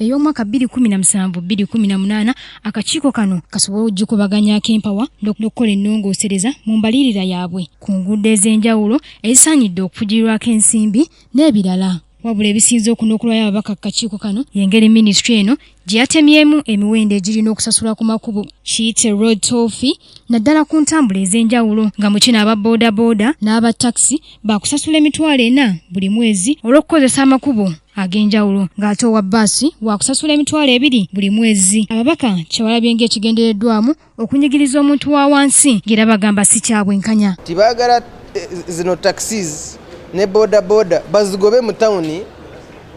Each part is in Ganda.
ey'omwaka bbiri kumi na musanvu bbiri kumi na munaana akakiiko kano kasobole okugikubaganyako empawa n'okukola ennongoosereza mu mbalirira yaabwe ku nguudo ez'enjawulo ezisaanidde okufugirirwako ensimbi n'ebirala wabula ebisinze okunokulwayo ababaka kukakiiko kano yengeri minisitule eno gye yatemyemu emiwendo egirina okusasulwa ku makubo kiyite road tofi naddala ku ntambula ez'enjawulo nga mu kino aba boodabooda n'aba takisi baakusasula emitwalo ena buli mwezi olw'okukozesa amakubo ag'enjawulo ng'ate owa bbaasi waakusasula emitwalo ebiri buli mwezi ababaka kyewalabye ng'ekigendereddwamu okunyigiriza omuntu wa wansi ng'era bagamba si kya bwenkanya tibaagala eh, zino taxis ne boodabooda bazigobe mu tawuni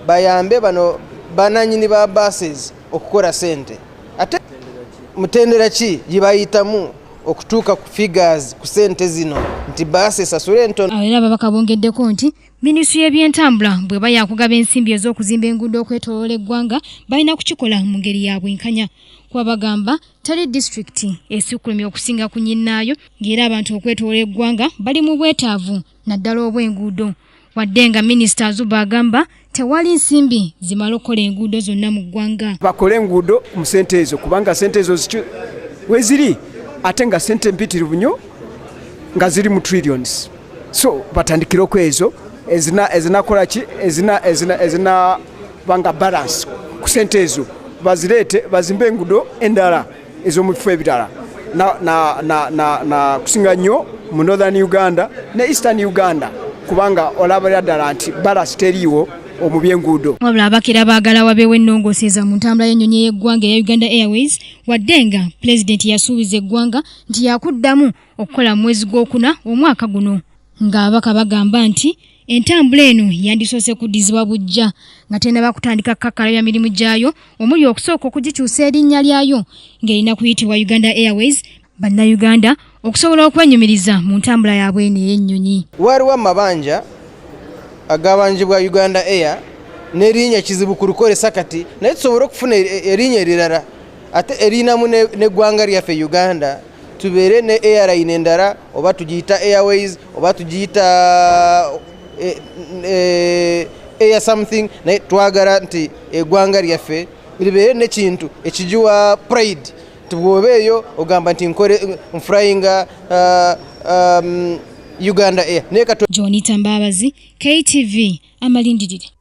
bayambe bano bananyini ba buses okukora sente ate mutendera ki gyebayitamu okutuuka ku figures ku sente zino nti baasi esasula entono era ababaka bongeddeko nti minisitule y'ebyentambula bweba yakugaba ensimbi ez'okuzimba enguudo okwetoloola eggwanga balina kukikola mu ngeri ya bwenkanya kuba bagamba tali disitulikiti esikulumya okusinga ku nyinnaayo ng'era abantu okwetoloola eggwanga bali mu bwetaavu naddala obw'enguudo wadde nga minisita azuba agamba tewali nsimbi zimala okukola enguudo zonna mu ggwanga bakole enguudo mu sente ezo kubanga sente ezo weziri ate nga sente mpitirivu nyo nga ziri mu trillions so batandikire okwezo ezinakola ki ezinabanga balance ku sente ezo bazireete bazimbe enguudo endala ez'omu bifo ebirala nakusinga nnyo mu northern uganda ne eastern uganda kubanga olabira ddala nti balasi teriiwo omu byenguudo wabula abakira baagala wabeewo ennongooseeza mu ntambula y'ennyonyi ey'eggwanga eya uganda airways wadde nga pulezidenti yasuubiza eggwanga nti yakuddamu okukola mu mwezi gw'okuna omwaka guno ng'ababaka bagamba nti Entambula eno yandisoose kuddizibwa bujja nga tenaba kutandika kukakalabya mirimu gyayo omuli okusooka okugikyusa erinnya lyayo ng'erina kuyitibwa Uganda Airways bannayuganda okusobola okwenyumiriza mu ntambula yaabwe eno ey'ennyonyi. Waaliwo amabanja agabanjibwa Uganda Air n'erinnya kizibu ku lukozesa kati naye tusobole okufuna e-, erinnya erirala ate erinamu n'eggwanga lyaffe Uganda. tubeere ne airline endala oba tugiyita airways oba tugiyita eh, eh, air something naye twagala nti egwanga lyaffe libeere nekintu ekigiwa pride nti bwoba eyo ogamba nti nkole nfryinga uh, um, uganda air naye katwa jonita mbabazi ktv amalindirire